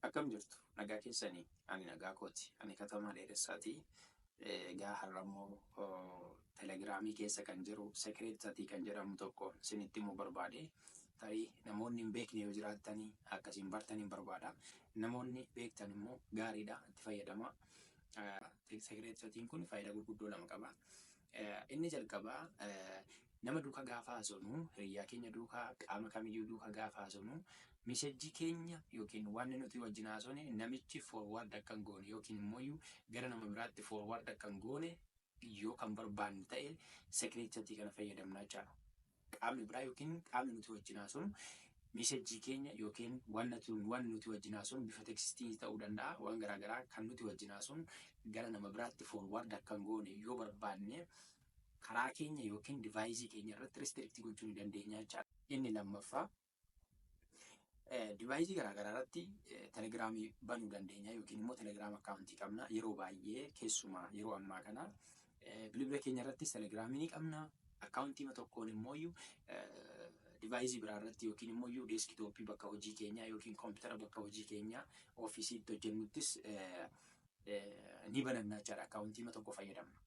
Akkam jirtu nagaa keessani ani nagaa kooti ani katamaa dheeressaati egaa har'ammoo telegiraamii keessa kan jiru secret chat kan jedhamu tokko isinitti himuu barbaade tarii namoonni hin beekne yoo jiraattani akka isin bartan hin barbaada namoonni beektan immoo gaariidha itti fayyadama secret chatiin kun faayidaa gurguddoo lama qaba Inni jalqabaa nama duukaa gaafa haasofnu, hiriyyaa keenya duukaa, qaama kamiyyuu duukaa gaafa haasofnu message keenya yookiin wanni nuti wajjin haasofne namichi forward akka hin goone yookiin immoo gara nama biraatti forward akka hin goone yoo kan barbaanne ta'e secret chat kana fayyadamna jechaadha. qaamni biraa yookiin qaamni nuti wajjin haasofnu miisejjii keenya yookiin wanna tun waan nuti wajjin haasofnu bifa tekstii ta'uu danda'a waan garaa garaa kan nuti wajjin haasofnu gara nama biraatti forward akka hin goone yoo barbaanne karaa keenya yookiin divaayisii keenya irratti restrict gochuu ni dandeenya jechaadha. Inni lammaffaa Divaayisii garaagaraa irratti telegiraamii banuu dandeenya yookiin immoo telegiraam akkaawuntii qabna. Yeroo baay'ee keessumaa yeroo ammaa kana bilbila keenya irratti telegiraamii ni qabna. Akkaawuntii tokkoon immoo divaayisii biraa irratti yookiin immoo deeskitooppii bakka hojii keenyaa yookiin koompitara bakka hojii keenyaa ofiisiitti hojjennuttis ni banannaa jechaadha. Akkaawuntii tokko fayyadamna.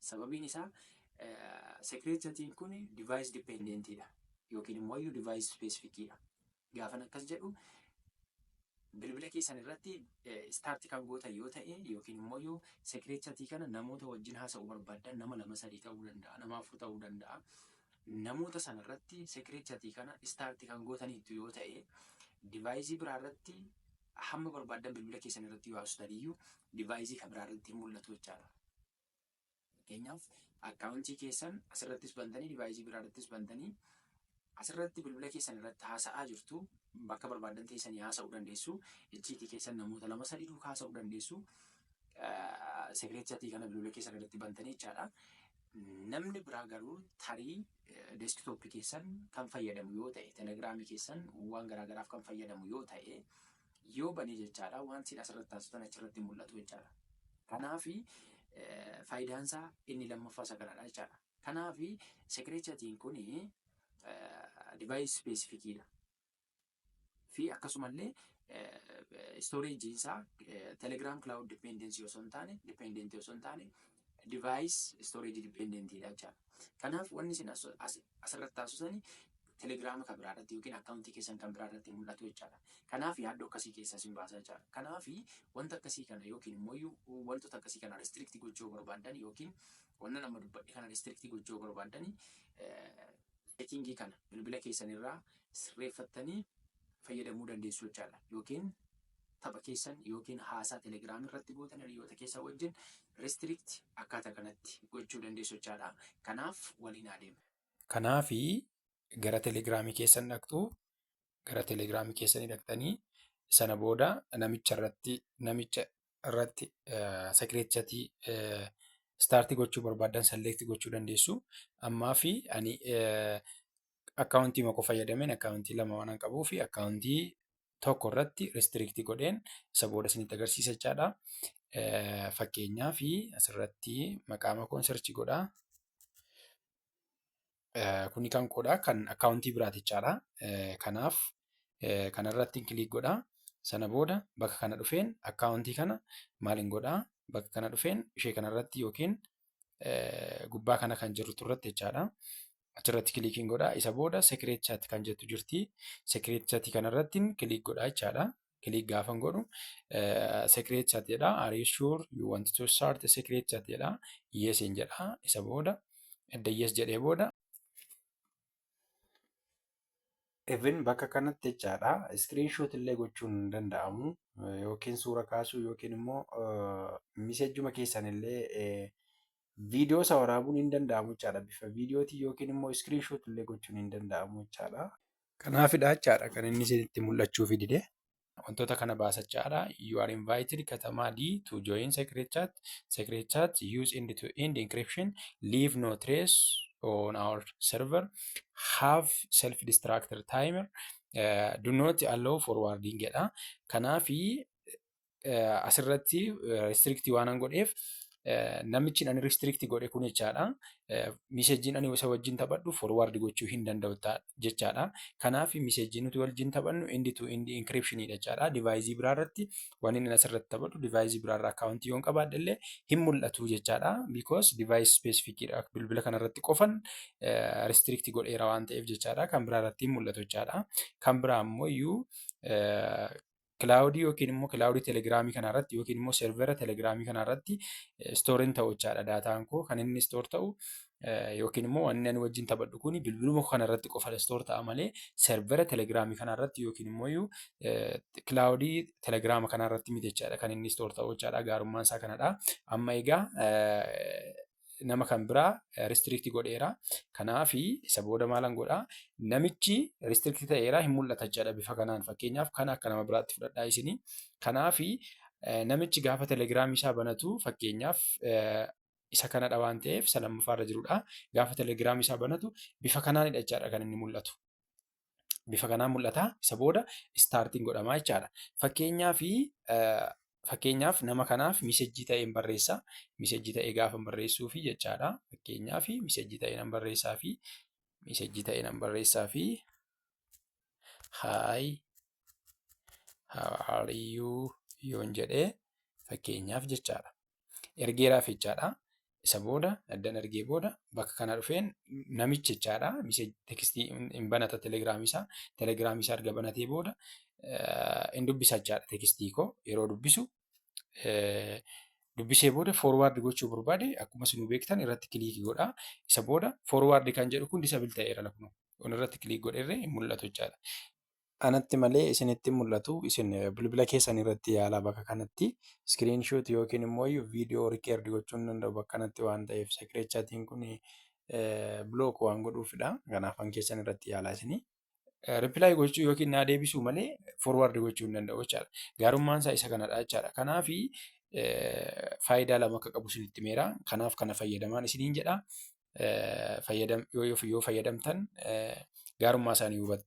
Sababiin isaa secret chatiin kun device dependent dha yookiin immoo iyyuu device specific dha. Gaafan akkas jedhu bilbila keessan irratti start kan gootan yoo ta'e yookiin immoo iyyuu secret chatii kana namoota wajjin haasa'uu barbaaddan nama lama sadii ta'uu danda'a, nama afur ta'uu danda'a. Namoota sana irratti secret chatii kana start kan gootaniittu yoo ta'e device biraa irratti hamma barbaaddan bilbila keessan irratti yoo haasoftan iyyuu device kan biraa irratti hin mul'atu jechaadha. Fakkeenyaaf akkaawuntii keessan asirrattis bantanii divaayisii biraa irrattis bantanii asirratti bilbila keessan irratti haasa'aa jirtu bakka barbaadan teessanii haasa'uu dandeessu. Icciitii keessan namoota lama sadii duukaa haasa'uu dandeessu. Sekireet chatii kana bilbila keessan irratti bantanii jechaadha. Namni biraa garuu tarii deeskitooppii keessan kan fayyadamu yoo ta'e, telegiraamii keessan waan garaagaraaf kan fayyadamu yoo ta'e yoo bane jechaadha waan siin asirratti taasiftan achirratti hin mul'atu jechaadha. Kanaaf faayidaan isaa inni lammaffaa isa kanadha jechaadha. Kanaaf secret chatting kun device specific dha. Fi akkasumallee storage isaa telegram cloud dependency osoo hin taane dependent osoo hin taane device storage dependent dha jechaadha. Kanaaf wanni isin asirratti taasisu sani telegiraama kan biraa irratti yookiin akkaawuntii keessan kan biraa irratti mul'atu jechaadha. Kanaaf yaaddoo akkasii keessa isin baasa jechaadha. Kanaaf wanta akkasii kana yookiin immoo wantoota akkasii kana restrict gochuu barbaaddan yookiin wanna nama dubbadhe kana restrict gochuu barbaaddan Seetiingii kana bilbila keessan irraa sirreeffattanii fayyadamuu dandeessu jechaadha. Yookiin tapha keessan yookiin haasaa Telegram irratti gootan hiriyoota keessan wajjin restrict akkaataa kanatti gochuu dandeessu jechaadha. Kanaaf waliin haa deemnu. Kanaaf gara Telegram keessan dhaqxu, gara Telegram keessanii dhaqxanii sana booda namicha irratti namicha irratti secret chatii starti gochuu barbaaddan select gochuu dandeessu. Ammaa fi ani akkaawuntii mako fayyadameen akkaawuntii lama waan qabuu fi akkaawuntii tokko irratti restrict godheen isa booda isinitti agarsiisa jechaadha. Fakkeenyaa fi asirratti maqaa makoon search godhaa. kuni kan koodha kan akkaawuntii biraati jechaadha. Kanaaf kanarratti kiliik godha. Sana booda bakka kana dhufeen akkaawuntii kana maaliin godha bakka kana dhufeen ishee kanarratti yookiin gubbaa kana kan jirtu irratti jechaadha. Achirratti kiliikiin godha. Isa booda sekireet chaat kan jettu jirti. Sekireet chaatii kanarratti kiliik godha jechaadha. click gaafan godhu secret chat jedha are you sure you want to start a secret chat jedha yes in jedha isa booda edda yes jedhee booda even bakka kanatti jechaadha screenshot illee gochuun hin danda'amu yookiin suura kaasuu yookiin immoo misejjuma keessan illee viidiyoo isa waraabuun hin danda'amu jechaadha bifa viidiyootiin yookiin immoo screenshot illee gochuun hin danda'amu jechaadha. Kanaafidha jechaadha kan inni isinitti mul'achuufi dide. Wantoota kana baasa jechaadha. You are invited katamaa D to join secret chat. Secret chat use end to end encryption. Leave no trace on our server. Have self destructor timer. Uh, do not allow forwarding jedha. Kanaafi asirratti restrictii waanan godheef namichi ani restrictii godhe kun jechaadha. Miseejiin ani isa wajjin taphadhu forward gochuu hin danda'u jechaadha. Kanaaf miseejii nuti wajjin taphannu indi to indi encryption jechaadha. Divaayizii biraa irratti waan inni asirratti taphadhu divaayizii biraa irraa akkaawuntii yoon qabaadhe illee hin mul'atu jechaadha. Because divaayis ispeesifikiidha. Bilbila kana irratti qofan restrictii godheera waan ta'eef jechaadha. Kan biraa irratti hin mul'atu jechaadha. Kan biraa ammoo iyyuu kilaawudii yookiin immoo kilaawudii telegiraamii kana irratti yookiin immoo servera telegiraamii kana irratti istooriin ta'u jechaadha daataan koo kan inni istoor ta'u yookiin immoo wanni ani wajjin taphadhu kun bilbiluma kana irratti qofa istoor ta'a malee servera telegiraamii kana irratti yookiin immoo iyyuu kilaawudii telegiraama kana irratti miti jechaadha kan inni istoor ta'u jechaadha gaarummaan isaa kanadha amma egaa nama kan biraa restrict godheera. Kanaaf isa booda maalan godhaa namichi restrict ta'eera hin mul'ata jechaadha bifa kanaan fakkeenyaaf kana akka nama biraatti fudhadhaa isinii. Kanaaf namichi gaafa telegiraamii isaa banatu fakkeenyaaf isa kanadha waan ta'eef isa lammaffaarra jirudha. Gaafa telegiraamii isaa banatu bifa kanaanidha jechaadha kan inni mul'atu. bifa kanaan mul'ata. Isa booda istaartiin godhamaa jechaadha. Fakkeenyaaf fakkeenyaaf nama kanaaf misejjii ta'een barreessa. Misejjii ta'ee gaafa barreessuu fi jechaadha. Fakkeenyaaf misejjii ta'ee nan barreessaa fi misejjii ta'ee nan barreessaa fi hi how are you yoon jedhee fakkeenyaaf jechaadha. ergeeraaf jechaadha. Isa booda addan ergee booda bakka kana dhufeen namichi jechaadha. Miseeji tekstii hin banata telegiraamii isaa. Telegiraamii isaa erga banatee booda hin dubbisa jechaadha tekstii koo yeroo dubbisu. Dubbisee booda forwaard gochuu barbaade akkuma isin beektan irratti kiliikii godha. Isa booda forwaard kan jedhu kun disabil ta'eera lakkuma. Kun irratti kiliik godherree hin mul'atu jechaadha. Anatti malee isinitti mul'atu isin bilbila keessan irratti yaalaa bakka kanatti screen shoot yookiin immoo viidiyoo record gochuun danda'u bakka kanatti waan ta'eef secret chatting kun block waan godhuufidha. Kanaaf an keessan irratti yaalaa isinii. Reply gochuu yookiin naa deebisuu malee forward gochuu hin danda'u jechaadha. Gaarummaan isaa isa kanadha jechaadha. Kanaaf faayidaa lama akka qabu isinitti meera. Kanaaf kana fayyadamaan isiniin jedha. Fayyadam yoo yoo fayyadamtan gaarummaa isaanii hubattu.